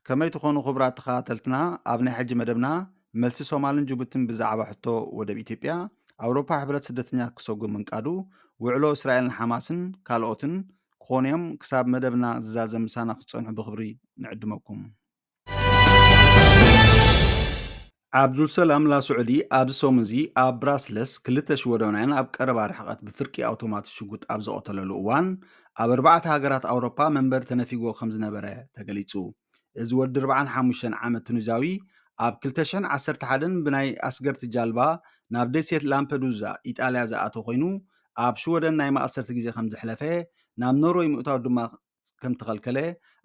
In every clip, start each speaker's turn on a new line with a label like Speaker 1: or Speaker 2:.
Speaker 1: ከመይ ትኾኑ ክቡራት ተኸታተልትና ኣብ ናይ ሕጂ መደብና መልሲ ሶማልን ጅቡትን ብዛዕባ ሕቶ ወደብ ኢትዮጵያ ኣውሮፓ ሕብረት ስደተኛ ክሰጉ ምንቃዱ ውዕሎ እስራኤልን ሓማስን ካልኦትን ክኾኑ እዮም ክሳብ መደብና ዝዛዘም ምሳና ክትፀንሑ ብክብሪ ንዕድመኩም ዓብዱልሰላም ላስዑዲ ኣብዚ ሰሙን'ዚ ኣብ ብራስለስ ክልተ ሽወደናውያን ኣብ ቀረባ ርሕቐት ብፍርቂ ኣውቶማት ሽጉጥ ኣብ ዝቐተለሉ እዋን ኣብ ኣርባዕተ ሃገራት ኣውሮፓ መንበሪ ተነፊጎ ከም ዝነበረ ተገሊጹ። እዚ ወዲ 45 ዓመት ቱኒዛዊ ኣብ 2011 ብናይ ኣስገርቲ ጃልባ ናብ ደሴት ላምፐዱዛ ኢጣልያ ዝኣተወ ኮይኑ ኣብ ሽወደን ናይ ማእሰርቲ ግዜ ከም ዘሕለፈ ናብ ኖርወይ ምእታው ድማ ከም እተኸልከለ፣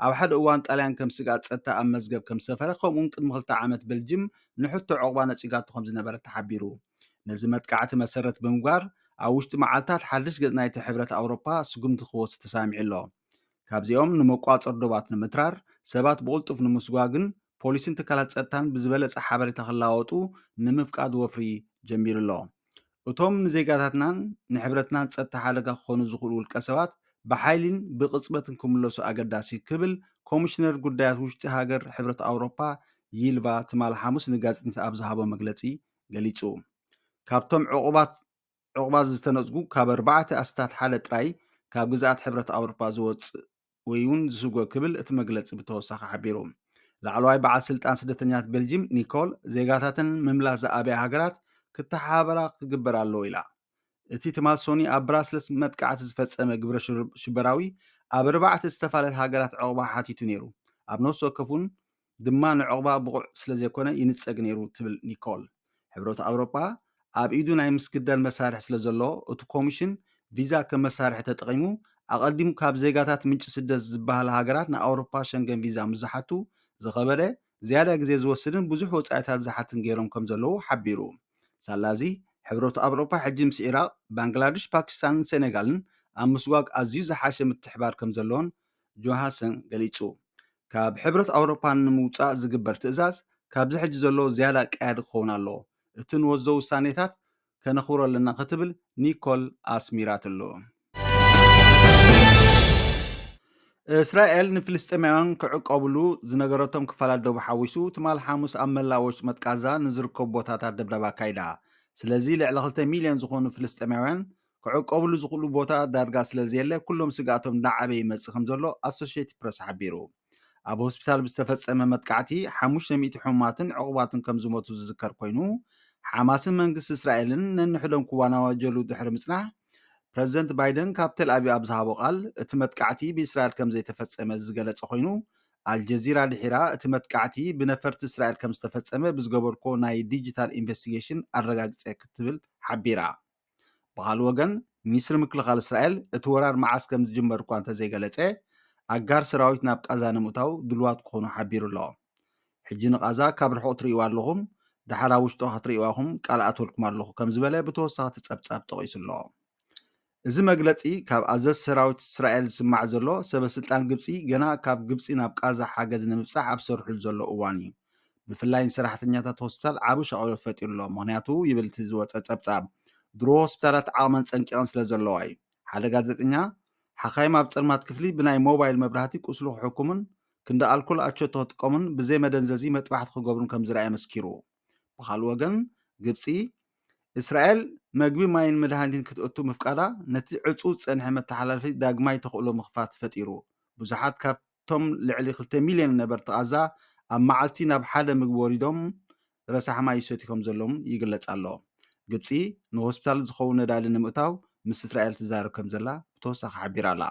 Speaker 1: ኣብ ሓደ እዋን ጣልያን ከም ስግኣት ጸጥታ ኣብ መዝገብ ከም ዝሰፈረ፣ ከምኡ'ውን ቅድሚ ክልተ ዓመት በልጅም ንሕቶ ዑቕባ ነጺጋቶ ከም ዝነበረት ተሓቢሩ። ነዚ መጥቃዕቲ መሰረት ብምግባር፣ ኣብ ውሽጢ መዓልታት ሓድሽ ገጽ ናይቲ ሕብረት ኣውሮጳ ስጉምቲ ክወስድ ተሳሚዑ ኣሎ። ካብዚኦም ንመቋጸር ዶባት ንምትራር፣ ሰባት ብቕልጡፍ ንምስጓግን ፖሊስን ትካላት ጸጥታን ብዝበለጸ ሓበሬታ ክለዋወጡ ንምፍቃድ ወፍሪ ጀሚሩ ኣሎ። እቶም ንዜጋታትናን ንሕብረትናን ጸጥታ ሓደጋ ክኾኑ ዝኽእሉ ውልቀሰባት ብሓይሊን ብቕጽበትን ክምለሱ ኣገዳሲ ክብል ኮሚሽነር ጉዳያት ውሽጢ ሃገር ሕብረት ኣውሮፓ ይልቫ ትማል ሓሙስ ንጋዜጠኛታት ኣብ ዝሃቦ መግለጺ ገሊጹ። ካብቶም ዕቑባት ዕቑባት ዝተነጽጉ ካብ ኣርባዕተ ኣስታት ሓደ ጥራይ ካብ ግዝኣት ሕብረት ኣውሮፓ ዝወጽእ ወይ'ውን ዝስጎግ ክብል እቲ መግለጺ ብተወሳኺ ሓቢሩ። ላዕለዋይ በዓል ስልጣን ስደተኛታት ቤልጂም ኒኮል፣ ዜጋታተን ምምላስ ዝኣበያ ሃገራት ክተሓባበራ ክግበር ኣለዎ ኢላ። እቲ ትማል ሶኑይ ኣብ ብራስለስ መጥቃዕቲ ዝፈጸመ ግብረ ሽበራዊ ኣብ ኣርባዕተ ዝተፋለለያ ሃገራት ዑቕባ ሓቲቱ ነይሩ፣ ኣብ ነፍሲ ወከፍ'ውን ድማ ንዕቝባ ብቑዕ ስለ ዘይኰነ ይንጸግ ነይሩ ትብል ኒኮል። ሕብረት ኣውሮጳ ኣብ ኢዱ ናይ ምስግዳድ መሳርሒ ስለ ዘሎ፣ እቲ ኮሚሽን ቪዛ ከም መሳርሒ ተጠቒሙ፣ ኣቐዲሙ ካብ ዜጋታት ምንጪ ስደት ዝበሃላ ሃገራት ንኣውሮጳ ሸንገን ቪዛ ምስ ዝሓቱ ዝኸበደ፣ ዝያዳ ግዜ ዝወስድን ብዙሕ ወጻኢታት ዝሓትን ገይሮም ከም ዘለዉ ሓቢሩ። ሳላ'ዚ ሕብረት ኣውሮጳ ሕጂ ምስ ዒራቕ፣ ባንግላድሽ፣ ፓኪስታንን ሰኔጋልን ኣብ ምስጓግ ኣዝዩ ዝሓሸ ምትሕብባር ከም ዘሎን ጆሃሰን ገሊጹ። ካብ ሕብረት ኣውሮፓ ንምውጻእ ዝግበር ትእዛዝ ካብዚ ሕጂ ዘሎ ዝያዳ ቀያዲ ክኸውን ኣለዎ፣ እቲ ንወስዶ ውሳኔታት ከነኽብሮ ኣለና ክትብል ኒኮል ኣስሚራትሉ። እስራኤል ንፍልስጤማውያን ክዕቆብሉ ዝነገረቶም ክፋላት ዶብ ሓዊሱ ትማል ሓሙስ ኣብ መላእ ወሽመጥ ቃዛ ንዝርከቡ ቦታታት ደብዳብ ኣካይዳ። ስለዚ ልዕሊ ክልተ ሚልዮን ዝኾኑ ፍልስጤማውያን ክዕቆብሉ ዝኽእሉ ቦታታት ዳርጋ ስለዘየለ ኩሎም ስግኣቶም እናዓበየ ይመጽእ ከምዘሎ ኣሶሸይትድ ፕረስ ሓቢሩ። ኣብ ሆስፒታል ብዝተፈጸመ መጥቃዕቲ ሓሙሽተ ሚእቲ ሕሙማትን ዕቑባትን ከምዝሞቱ ዝዝከር ኮይኑ፣ ሓማስን መንግስቲ እስራኤልን ነንሕዶም ክዋናዋጀሉ ድሕሪ ምጽናሕ፣ ፕረዚደንት ባይደን ካብ ተልኣቪቭ ኣብ ዝሃቦ ቃል እቲ መጥቃዕቲ ብእስራኤል ከምዘይተፈጸመ ዝገለጸ ኮይኑ፣ ኣልጀዚራ ድሒራ እቲ መጥቃዕቲ ብነፈርቲ እስራኤል ከምዝተፈጸመ ብዝገበርኩዎ ናይ ዲጂታል ኢንቨስቲጌሽን ኣረጋጊጸ ክትብል ሓቢራ። ብኻልእ ወገን ሚኒስትሪ ምክልኻል እስራኤል እቲ ወራር መዓስ ከም ዝጅመር እኳ እንተዘይገለጸ ኣጋር ሰራዊት ናብ ቃዛ ንምእታው ድልዋት ክኾኑ ሓቢሩ ኣሎ። ሕጂ ንቓዛ ካብ ርሑቕ ትርእይዋ ኣለኹም፣ ደሓር ኣብ ውሽጦ ክትርእይዋ ኢኹም ቃል ኣትወልኩም ኣለኹ ከም ዝበለ ብተወሳኺ እቲ ጸብጻብ ጠቒሱ ኣሎ። እዚ መግለጺ ካብ ኣዘዝ ሰራዊት እስራኤል ዝስማዕ ዘሎ ሰበ ስልጣን ግብጺ ገና ካብ ግብጺ ናብ ቃዛ ሓገዝ ንምብጻሕ ኣብ ዝሰርሑሉ ዘሎ እዋን እዩ። ብፍላይ ንሰራሕተኛታት ሆስፒታል ዓቢ ሻቕሎት ፈጢሩ ኣሎ፣ ምኽንያቱ ይብል እቲ ዝወጸ ጸብጻብ፣ ድሮ ሆስፒታላት ዓቕመን ጸንቂቐን ስለ ዘለዋ እዩ። ሓደ ጋዜጠኛ፣ ሓካይም ኣብ ጸልማት ክፍሊ ብናይ ሞባይል መብራህቲ ቁስሉ ክሕክሙን ክንዲ ኣልኮል ኣቸቶ ክጥቀሙን ብዘይ መደንዘዚ መጥባሕቲ ክገብሩን ከም ዝርኣየ መስኪሩ። ብኻልእ ወገን፣ ግብጺ፣ እስራኤል መግቢ፣ ማይን መድሃኒትን ክትእቱ ምፍቃዳ ነቲ ዕጹው ዝጸንሐ መተሓላለፊ ዳግማይ ተኽእሎ ምኽፋት ፈጢሩ፣ ብዙሓት ካብ እቶም ልዕሊ ክልተ ሚልዮን ነበርቲ ቓዛ ኣብ መዓልቲ ናብ ሓደ ምግቢ ወሪዶም ረሳሕ ማይ ይሰትዩ ከምዘለዉን ይግለጽ ኣሎ። ግብጺ ንሆስፒታል ዝኸውን ነዳዲ ንምእታው ምስ እስራኤል ትዛረብ ከምዘላ ብተወሳኺ ሓቢራ'ላ።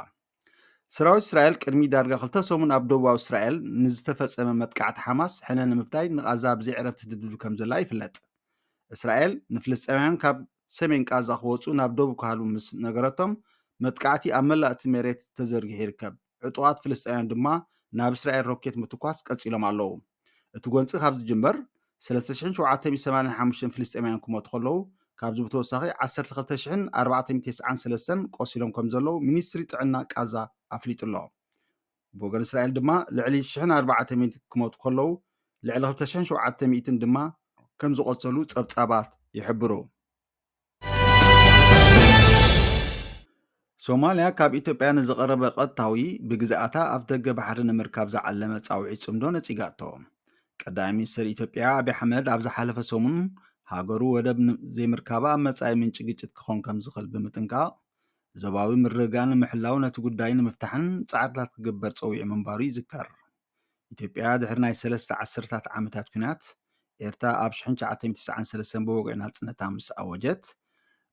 Speaker 1: ሰራዊት እስራኤል ቅድሚ ዳርጋ ክልተ ሰሙን ኣብ ደቡባዊ እስራኤል ንዝተፈጸመ መጥቃዕቲ ሓማስ ሕነ ንምፍዳይ ንቓዛ ብዘይዕረፍቲ ትድብድብ ከምዘላ ይፍለጥ። እስራኤል ንፍልስጤማውያን ካብ ሰሜን ቓዛ ክወጹ ናብ ደቡብ ክሃልዉ ምስ ነገረቶም መጥቃዕቲ ኣብ መላእ እቲ መሬት ተዘርጊሑ ይርከብ። ዕጡቓት ፍልስጤማውያን ድማ ናብ እስራኤል ሮኬት ምትኳስ ቀጺሎም ኣለዉ። እቲ ጎንጺ ካብ ዝጅመር፣ ሰለስተ ሽሕን ሸውዓተ ሚእትን ሰማንያን ሓሙሽተን ፍልስጤማውያን ክሞቱ ከለዉ፣ ካብዚ ብተወሳኺ ዓሰርተ ክልተ ሽሕን ኣርባዕተ ሚእትን ተስዓን ሰለስተን ቆሲሎም ከምዘለዉ ሚኒስትሪ ጥዕና ቃዛ ኣፍሊጡ'ሎ። ብወገን እስራኤል ድማ ልዕሊ ሽሕን ኣርባዕተ ሚእትን ክሞቱ ከለዉ፣ ልዕሊ ክልተ ሽሕን ሸውዓተ ሚእትን ድማ ከምዝቖሰሉ ጸብጻባት ይሕብሩ። ሶማልያ ካብ ኢትዮጵያ ንዝቐረበ ቐጥታዊ ብግዝኣታ ኣፍ ደገ ባሕሪ ንምርካብ ዝዓለመ ጻውዒት ጽምዶ ነጺጋቶ ቀዳሚ ሚኒስትር ኢትዮጵያ ኣብዪ ኣሕመድ ኣብ ዝሓለፈ ሰሙን ሃገሩ ወደብ ዘይምርካባ ኣብ መጻኢ ምንጪ ግጭት ክኾን ከም ዝኽእል ብምጥንቃቕ ዞባዊ ምርግጋእ ንምሕላው ነቲ ጉዳይ ንምፍታሕን ጻዕርታት ክግበር ጸዊዑ ምንባሩ ይዝከር ኢትዮጵያ ድሕሪ ናይ ሰለስተ ዓሰርታት ዓመታት ኲናት ኤርትራ ኣብ ሽሕን ትሽዓተ ሚእቲ ትስዓን ሰለስተን ብወግዒ ናጽነታ ምስ ኣወጀት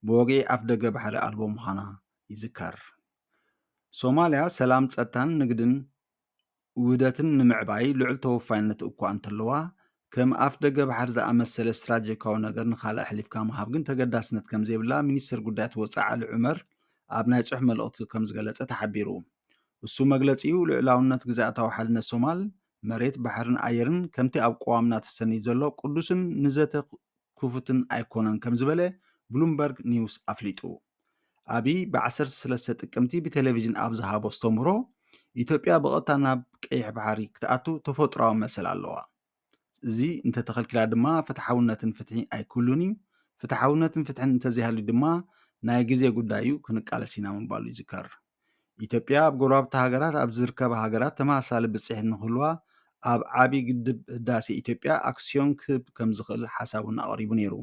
Speaker 1: ብወግዒ ኣፍደገ ባሕሪ ኣልቦ ምዃና ይዝከር። ሶማልያ ሰላም፣ ጸጥታን ንግድን ውህደትን ንምዕባይ ልዑል ተወፋይነት እኳ እንተለዋ ከም ኣፍደገ ባሕሪ ዝኣመሰለ ስትራጀካዊ ነገር ንኻልእ ኣሕሊፍካ ምሃብ ግን ተገዳስነት ከም ዘይብላ ሚኒስተር ጉዳያት ወጻኢ ዓሊ ዑመር ኣብ ናይ ጽሑፍ መልእኽቲ ከም ዝገለጸ ተሓቢሩ። እሱ መግለጺኡ ልዑላውነት ግዝኣታዊ ሓድነት ሶማል መሬት፣ ባሕርን ኣየርን ከምቲ ኣብ ቅዋምና ተሰኒድ ዘሎ ቅዱስን ንዘተ ክፉትን ኣይኮነን ከም ዝበለ ብሉምበርግ ኒውስ ኣፍሊጡ። ኣብይ ብ ዓሰርተ ሰለስተ ጥቅምቲ ብቴሌቪዥን ኣብ ዝሃቦ ኣስተምህሮ፣ ኢትዮጵያ ብቐጥታ ናብ ቀይሕ ባሕሪ ክትኣቱ ተፈጥሮኣዊ መሰል ኣለዋ። እዚ እንተተኸልኪላ ድማ ፍትሓውነትን ፍትሒ ኣይክህሉን እዩ። ፍትሓውነትን ፍትሕን እንተዘይሃልዩ ድማ ናይ ግዜ ጉዳይ እዩ፣ ክንቃለስ ኢና ምባሉ ይዝከር። ኢትዮጵያ ኣብ ጎረባብቲ ሃገራት ኣብ ዝርከባ ሃገራት ተመሳሳሊ ብፅሒት ንክህልዋ ኣብ ዓብዪ ግድብ ህዳሴ ኢትዮጵያ ኣክሲዮን ክህብ ከምዝኽእል ሓሳቡን ኣቕሪቡ ነይሩ።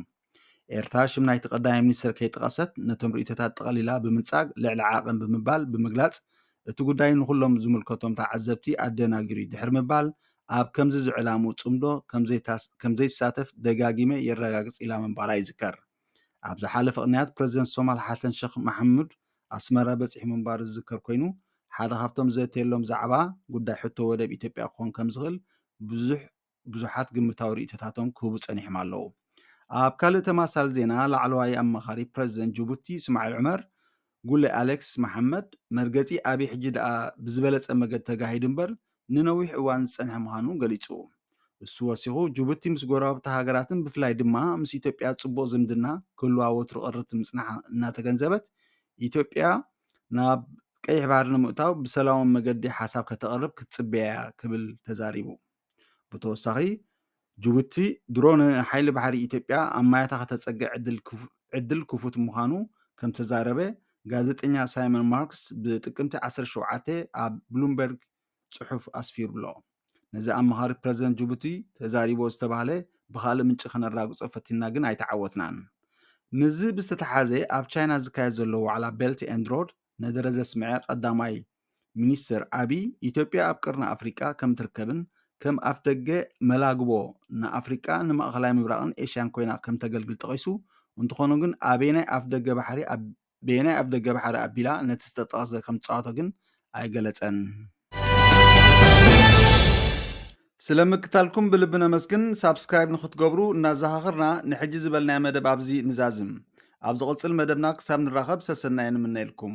Speaker 1: ኤርትራ ሽም ናይቲ ቀዳማይ ሚኒስትር ከይጠቐሰት ነቶም ርእይቶታት ጠቐሊላ ብምንጻግ ልዕሊ ዓቐን ብምባል ብምግላጽ እቲ ጉዳይ ንኹሎም ዝምልከቶም ተዓዘብቲ ኣደናጊሩ እዩ ድሕሪ ምባል ኣብ ከምዚ ዝዕላሙ ጽምዶ ከምዘይሳተፍ ደጋጊመ የረጋግጽ ኢላ ምንባራ ይዝከር። ኣብ ዝሓለፈ ቅንያት ፕረዚደንት ሶማል ሓሰን ሸኽ መሓሙድ ኣስመራ በጺሑ ምንባሩ ዝዝከር ኮይኑ፣ ሓደ ካብቶም ዝዘትየሎም ዛዕባ ጉዳይ ሕቶ ወደብ ኢትዮጵያ ክኾን ከምዝኽእል ብዙሕ ብዙሓት ግምታዊ ርእይቶታቶም ክህቡ ጸኒሖም ኣለዉ። ኣብ ካልእ ተመሳሳሊ ዜና ላዕለዋይ ኣማኻሪ ፕረዚደንት ጅቡቲ እስማዒል ዑመር ጉለ ኣሌክስ መሓመድ መርገጺ ኣብይ ሕጂ ደኣ ብዝበለጸ መገዲ ተጋሂዱ እምበር ንነዊሕ እዋን ዝጸንሐ ምዃኑ ገሊጹ። እሱ ወሲኹ ጁቡቲ ምስ ጎረባብታ ሃገራትን ብፍላይ ድማ ምስ ኢትዮጵያ ጽቡቕ ዝምድና ክህልዋ ወትሩ ቅርብቲ ምጽንሓ እናተገንዘበት ኢትዮጵያ ናብ ቀይሕ ባሕሪ ንምእታው ብሰላማዊ መገዲ ሓሳብ ከተቕርብ ክትጽበያ ክብል ተዛሪቡ። ብተወሳኺ ጅቡቲ ድሮ ንሓይሊ ባሕሪ ኢትዮጵያ ኣብ ማያታ ከተፀግዕ ዕድል ክፉት ምዃኑ ከምተዛረበ ጋዜጠኛ ሳይመን ማርክስ ብጥቅምቲ 17 ኣብ ብሉምበርግ ፅሑፍ ኣስፊሩሎ። ነዚ ኣማኻሪ ፕረዚደንት ጅቡቲ ተዛሪቦ ዝተባህለ ብካልእ ምንጪ ከነራግጾ ፈቲንና ግን ኣይተዓወትናን። ምስዚ ብዝተተሓዘ ኣብ ቻይና ዝካየድ ዘሎ ዋዕላ ቤልት ኤንድ ሮድ ነደረ ዘስምዐ ቀዳማይ ሚኒስትር ኣቢይ፣ ኢትዮጵያ ኣብ ቀርኒ ኣፍሪቃ ከምትርከብን ከም ኣፍደገ መላግቦ ንኣፍሪቃ፣ ንማእኸላይ ምብራቕን ኤሽያን ኮይና ከምተገልግል ጠቒሱ፣ እንተኾነ ግን ኣበየናይ ኣፍደገ ባሕሪ ኣቢላ ነቲ ዝተጠቕሰ ከምትፃወቶ ግን ኣይገለፀን። ስለ ምክታልኩም ብልቢ ነመስግን ሳብስክራይብ ንክትገብሩ እናዘኻኽርና ንሕጂ ዝበልናዮ መደብ ኣብዚ ንዛዝም ኣብ ዝቕጽል መደብና ክሳብ ንራኸብ ሰሰናዩ ንምነየልኩም